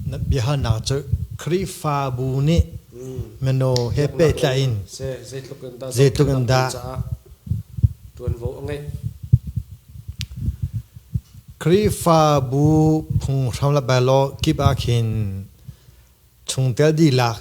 Na biahalnak cu Khrihfabu nih mino he pehtlaih in zeitluk in dah ṭuanvo a ngeih? Khrihfabu phunghram le belaw kip ah khin chungtel dihlak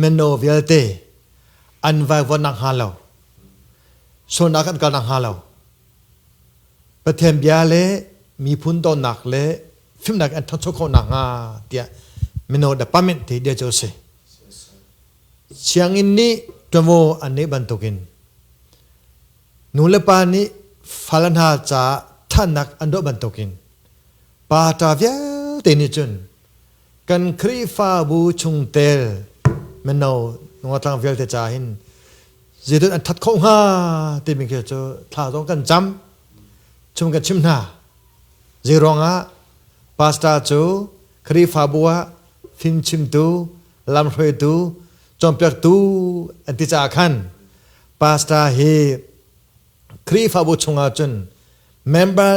Meno vialte an vaivon nak hnga lo sualnak kan kal nak hnga lo Pathian bia le miphun donnak le fimnak an ṭhancho khawh nak hnga tiah mino department te dia cu a si sianginn nih ṭuanvo an neih bantukin nu le pa nih fale hna ca ṭhannak an doh bantukin pa ṭa vialte nih cun kan khrihfabu chungtel mino nungatlang vialte ca hin zeidun an that kho hnga timi khi cu thla zong kan cam chung kan chim hna zei ruangah pastor cu khrihfabu ah fimchimtu lamhruaitu cawnpiaktu an ti caah khan pastor hi Khrihfabu chungah cun member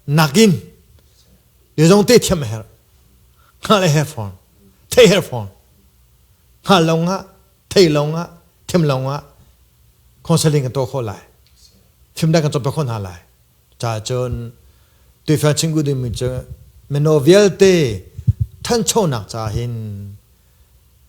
nakin bia zong te thiam a herh. Nga le her fawn. Thei her fawn. Nga lawng ah, thei lawng ah, thiam lawng ah counseling kan tuah khawh lai. Thimdang kan cop khawh hna lai. Ca cun tuifel chingku dimi cu meno vialte thanchonak ca hin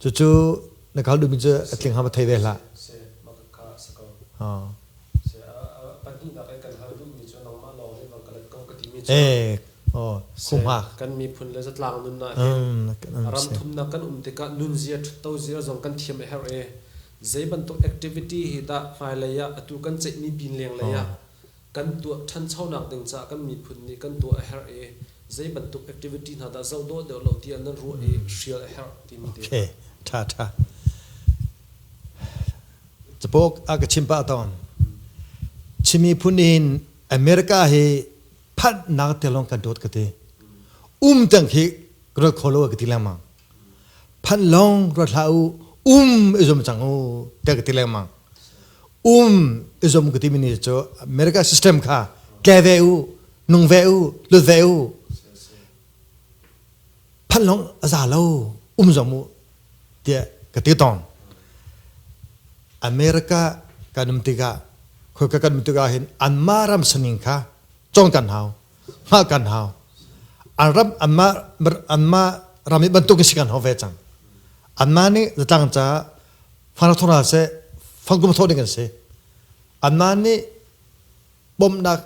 Cucu na kal duhmi cu a tling hama thei ve hlah. Eh, oh, kumha. Kan miphun le zatlang nun na he. Ram thum na kan um tikah nun zia ṭhutto zia zong kan thiam a herh e. Zei bantuk activity hi dah hmailei ah atu kan ceihmi pin leng lei ah Kan tuah ṭhanchonak ding caah kan miphun nih kan tuah a herh i zeibantuk activity hna dah zoh dawh deuh lo tiah nan ruah i hrial a herh timi te. Okay, ṭha ṭha. Capook a ka chim pah tawn. Chin miphun in America hi phanhnak te lawng kan dawt ka ti. Um tang khi ka ruat kho lo ka ti lengmang. Phan long ruat hlah u um izom cang u te ka ti lengmang um izom ka ti mi ni cu America system kha tle ve u nung ve u lut ve u phan long aza lo um zom u te ka ti tong America kanum tikah khoi ka kanum tikah hin anma ram saning kha chong kan hau hngah kan hau an ram anmah anmah ram i bantuk in si kan hau ve cang anmah nih zatlang ca fara thora seh fangkum thawh ding an si anmah nih bomnak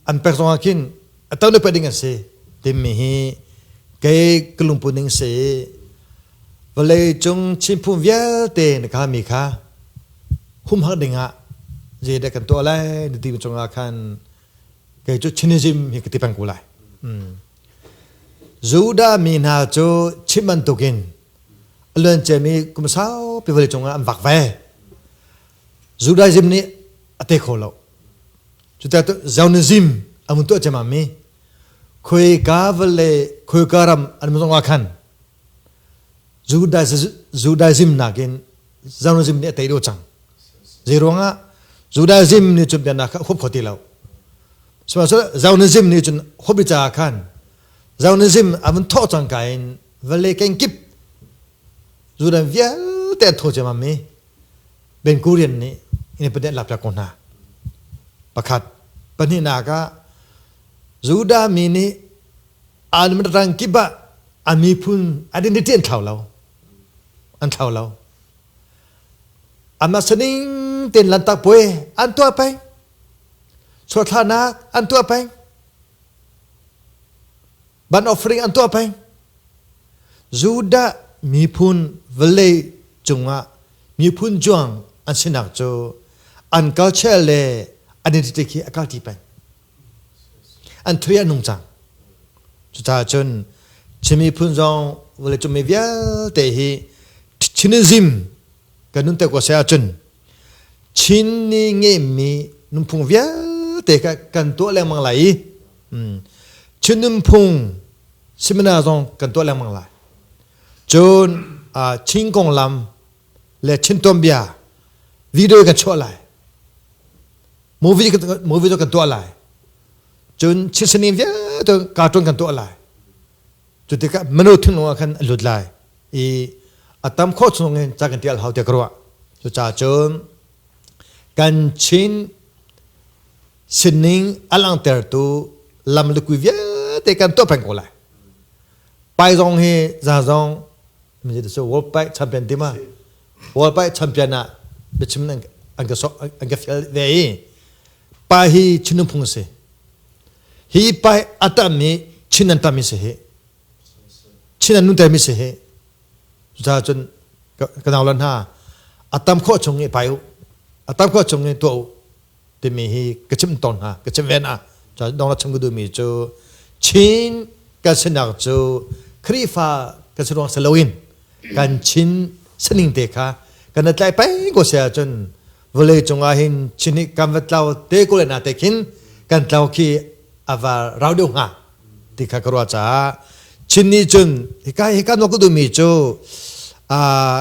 an pek zong ah khin a to le ding an si timi hi kei ka lungpun ning se vale cung chinphung vialte na ka mi kha humhak ding ah je dek kan to lai na ti chung ah khan kei cu Chinism hi ka ti peng ko lai. Mm. Judah mi hna cu chim bantukin a luanciami kum saupi vale cungah an vak ve. Judaism nih a te kho lo. Cuti Zionism a mun tuah cemami khoi ka vale khoi ka ram an mun zongah khan Judaism nakin Judaism nih a tei dawh cang. Zeiruangah? Judaism nih cun biaknak kha a huap kho ti lo. Sihmanhsehlaw Zionism nih cun huap i caah khan Zionism a vun thawh cangka in vale kenkip Judan vialte an tho ciammam i Ben Gurion nih Independent lakpiak ko hna. Pakhat. Pahnihnak ah, Judah mi nih an midrang kip ah a miphun an in ṭian thlau lo an thlau lo ama saning ten lantak puai an tuah peng suathlarnak an tuah peng ban offering an tuah peng judah miphun valley cungah miphun juang an sinak cu an culture le identity khi a kalti peng an thui an nung cang cucaah cun Chin miphun zong vale cung mi vialte hi Chinism kan nun te ko sai ahcun Chin ni ngeimi nunphung vialte kan tuah lengmang lai i Chin nunphung seminar zong kan tuah lengmang lai cun Chin konglam le chintawm bia video kan chuah lai movie movie tu kan tuah lai cun chinsanin vialte cartoon kan tuah lai cu tikah manu thinglung ah khan a lut lai i a tam khawh chung in ca kan tial hau te ka ruah cu ca cun kan chin sining a langtertu lam lukui vialte kan tuah peng ko lai pai zong hi za zong world bike champion tim ah world bike champion ah biachim an an ka sok an ka fial ve i pa hi chinung phung si hi pa hi a tam mi chin an tam mi si hi chin an nun ter mi si hi cucaah cun ka ka nau la hna a tam khawh chung i pai u a tam khawh chung i tuah u timi hi ka chim tawn hna ka chim ven ah dong la chim ka duhmi cu Chin kan sinak cu Khrihfa kan si ruang si loin kan Chin sining te kha kan i tlai pei ko sia cun vawlei cungah hin Chin hi kan va tlau te ko le na te khin kan tlau khi ava rau deuh hnga ti kha ka ruah caah Chin nih cun hika hika nuak ka duhmi cu uh,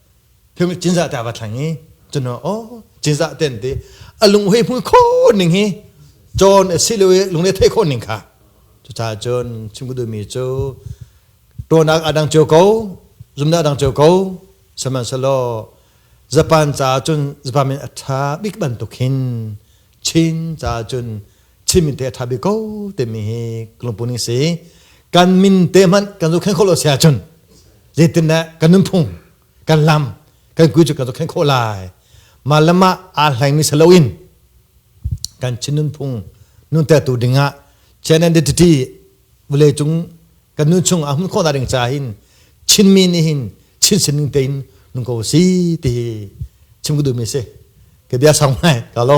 cinzah te a va thleng i cuno o cinzah ten ti a lunghui hmul kho ning hi john a si lo i lungre thei kho ning kha cucaah cun chim ku duhmi cu tuanak adang cio ko zumna adang cio ko sahmanhselaw japan ca cun japan min a tha bik bantuk hin Chin ca cun chimin te tha bi ko te mi hi lungpun ni si kan min te hmanh kan zo khen kholo sia cun zetin ne kan nunphung kan lam kan kui cu kan zo khen kho lai ma lama a hlaing mi salo in kan chin nunphung nun te tu ding ah chian identity vule cung kan nun chung a hun kho da ring cha hin chin mi ni hin chin sining te in nung ko si ti hi chim ku du mi si ke bia sang mai ka lo